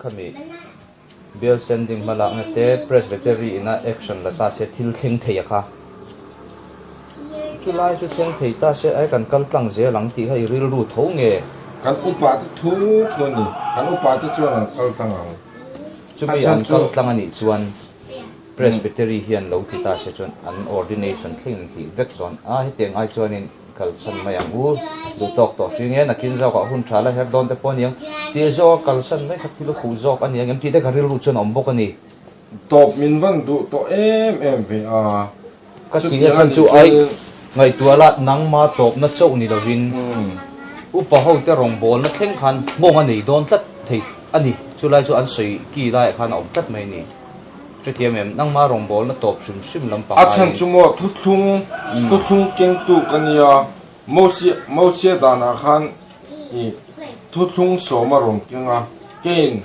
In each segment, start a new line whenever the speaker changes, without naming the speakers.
khami bial sen ding hma lakna te presbytery in a action la ta se thil thleng thei a kha chu lai chu thleng thei ta se ai kan kal tlang zel ang tih kha i rilru tho nge kan upa chu
thu thu a ni kan upa te chuan an kal tlang ang chumi
an kal tlang a nih chuan Presbytery hian lo ti ta se chuan an ordination thleng in tih vek dawn a, hetiang ai chuanin kal san mai ang u, duh tawk tawh hri nge nakin zawk ah hun tha la her dawn te pawh a ni ang, tih zawk a kal san mai kha thil a fuh zawk a ni ang em tih te ka rilru chuan a awm bawk a ni. Tawp min
van duh tawh em em ve a. Ka tih
na chhan chu aih ngaihtuah la, nangma tawpna chauh ni lovin upa hote rawngbawlna thleng khan nghawng a nei dawn tlat thei a ni. Chulai chu an sawi ki laiah khan a awm tlat mai a ni. Hrethiam em, nangma rawngbawlna tawp hrim hrim lam panga in. A chhan chu maw
thuthlung, thuthlung kengtu ka nia. Mawhchhiah danah khan i thuthlung sawm a rawn keng a, keiin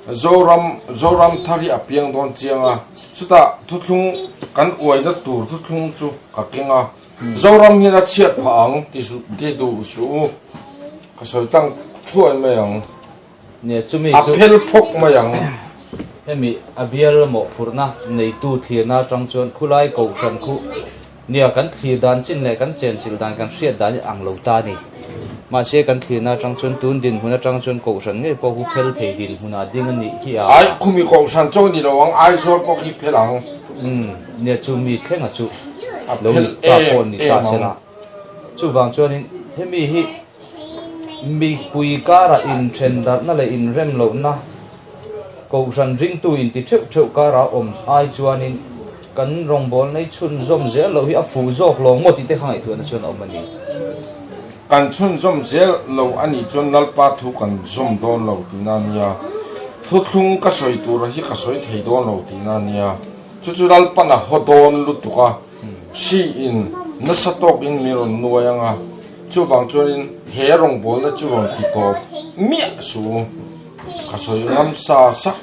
Zoram Zoram thar hi a piang dawn chiang a, chutah thuthlung kan uaina tur thuthlung chu ka keng a, Zoram hian a chhiat phah ang ti duh suh u, ka sawi tlang thuai mai ang. Nia chumi
chu. A phel phawk mai ang.
Hemi
a bial lamawh phurhna neitu thlirna atang chuan khulai kohhran khu nia kan thlir dan chin leh kan chenchilh dan kan hriat dan hi a ang lo ta a ni. Mahse kan thlirna atang chuan tun dinhmun atang chuan kohhran ngei pawh hu phel thei dinhmunah ding a nih hi a. Aikhumi kohhran
chu a ni lo ang, Aizawl pawh hi phel ang. Umm, nia
chumi thlenga chu lo ni ta pawh a ni ta se la. Chuvang chuanin hemi hi. Milpui karah inthendarhna leh inrem lohna Kohhran ringtu inti theuh theuh karah awm ai chuanin kan rawngbawlnei chhunzawm zel loh hi a fuh zawk lawng maw tih te kha ngaihtuahna chuan a awm a ni.
Kan chhunzawm zel lo a nih chuan Lalpa thu kan zawm dawn lo tih na nia, thuthlung ka sawi tura hi ka sawi thei dawn lo tih na nia, chu chu Lalpana haw dawn lutuk a. Hri in nasa tawk in min rawn nuai ang a, chuvang chuan in he rawngbawlna chu rawn ti tawp miah su u, ka sawi ngam sa sak,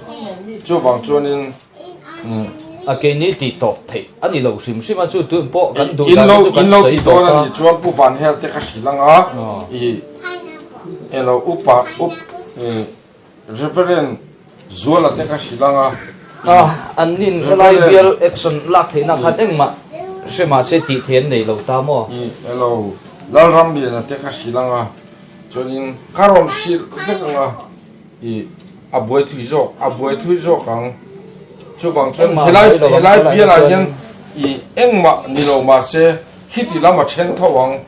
chuvang chuan in umm.
A ke ni ti tawp theih a ni lo hrim hrim a, chu tun pawh kan duh dan te chu kan sawi tawp a. In lo ti dawn
a
nih chuan Pu Vanhel
te ka hrilh ang a, ih elo upa up ih. Reverend Zuala te ka hrilh anga in an
in helai bial action lak theih nak khan engmah hre mah se tih theih an nei lo ta maw? I elo
Lalram liana te ka hrilh anga chuan in ka rawn hrilh vek anga i a buai thui zawk a buai thui zawk ang chuvang chuan helai helai bial ah hian i engmah ni lo mah se hiti lam a then tho ang.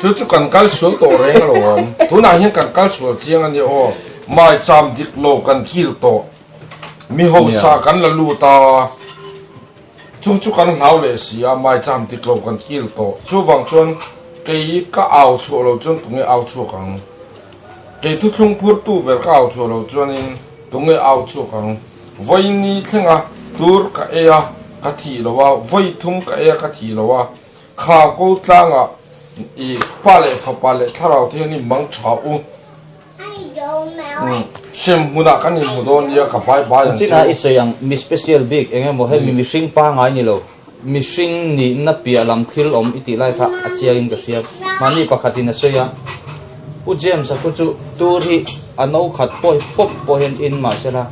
Chu chu kan kal sual tawh reng a lo awm. Tunah hian kan kal sual chiang a ni aw. Mai cham dik lo kan kil tawh. Mi hausa kan la lut a. Chu chu kan hlau leh si a, mai cham dik lo kan kil tawh. Chuvang chuan kei ka au chhuah lo chuan tunge au chhuak ang? Kei thu thlung phur tu ber ka au chhuah lo chuanin tunge au chhuak ang? Vawi ni thlenga tur ka ei a, ka thih lo a, vawi thum ka ei a, ka thih lo a. Kha ko tlanga i pa leh fapa leh thlarau te hian i mang tha u. Hriam hmuna kan inhmu dawn nia ka bai bai ang chu. China i sawi ang mi
special bik eng emaw he mi mihring pa ngai ni lo mihring nihna piah lam thil awm i tih lai kha a chiang in ka hria mahni pakhat in a sawi a Pu James a thu chu tur hi a no khat pawi pawp pawh hian in mah se la,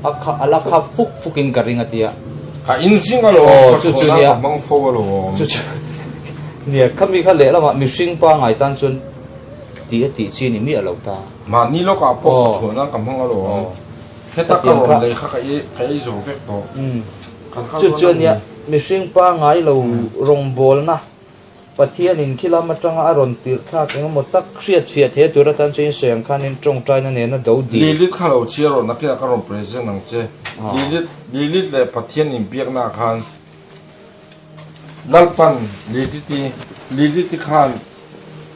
a kha, a la khap fuk fuk in ka ring a ti a. A in zing
a lo, ka thaw nan ka hmang
fo a lo awm.
Chu chu
nia, khami kha lehlam ah mihring pangai tan chuan ti a tih chi ni miah lo ta. Mahni lawk ah pawh
ka thaw nan ka hmang a lo awm. Heta ka rawn lei kha ka i, ka ei zo vek tawh. Chu
chu nia, mihring pangai lo rawngbawlna. Pathianin khi lam atanga a rawn tirhthlak engemaw tak hriatfiah theih atur atan chu Insawiam khanin tawngtaina nen a do dih. Lilith kha lo chhia rawn
akin aka rawn present ang che. Lilith Lilith leh Pathian inbiaknaah khan Lalpa'n Lilith i Lilith i khan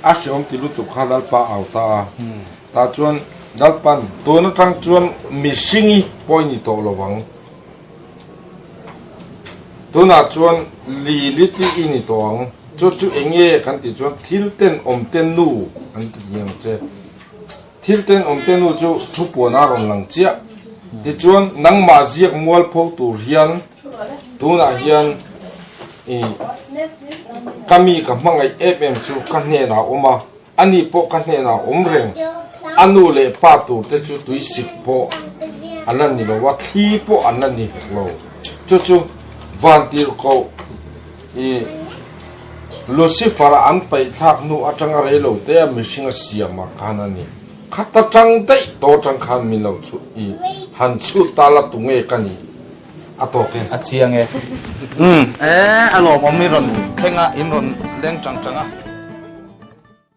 a hreawm tih lutuk kha Lalpa a au ta a. Tah chuan Lalpa'n tun atang chuan mihring i pawi ni tawh lo vang. Tunah chuan Lili tih i ni tawh ang. Chu chu eng nge kan tih chuan thil ten awm te nu an ti ni ang che. Thil ten awm te nu chu thupuan a rawn lang chiah. Tichuan nangmah ziak mual pho tur hian tunah hian i ka mi ka hmangaih em em chu ka hnenah a awm a. Ani pawh ka hnenah awm reng. A nu leh pa tur te chu tui sik pawh a la ni lo a, thli pawh an la ni hek lo. Chu chu van tir koh i
Lucifer-a an paihthlak hnu atanga rei lo teia mihringa siamah khan a ni. Kha ta tang daih tawh atang khan min lo chhut i han chhut ta la tu nge ka nih a tawk e. A chiang e. Umm. Ee, a lawmawm i rawn thleng a, in rawn leng chang chang a.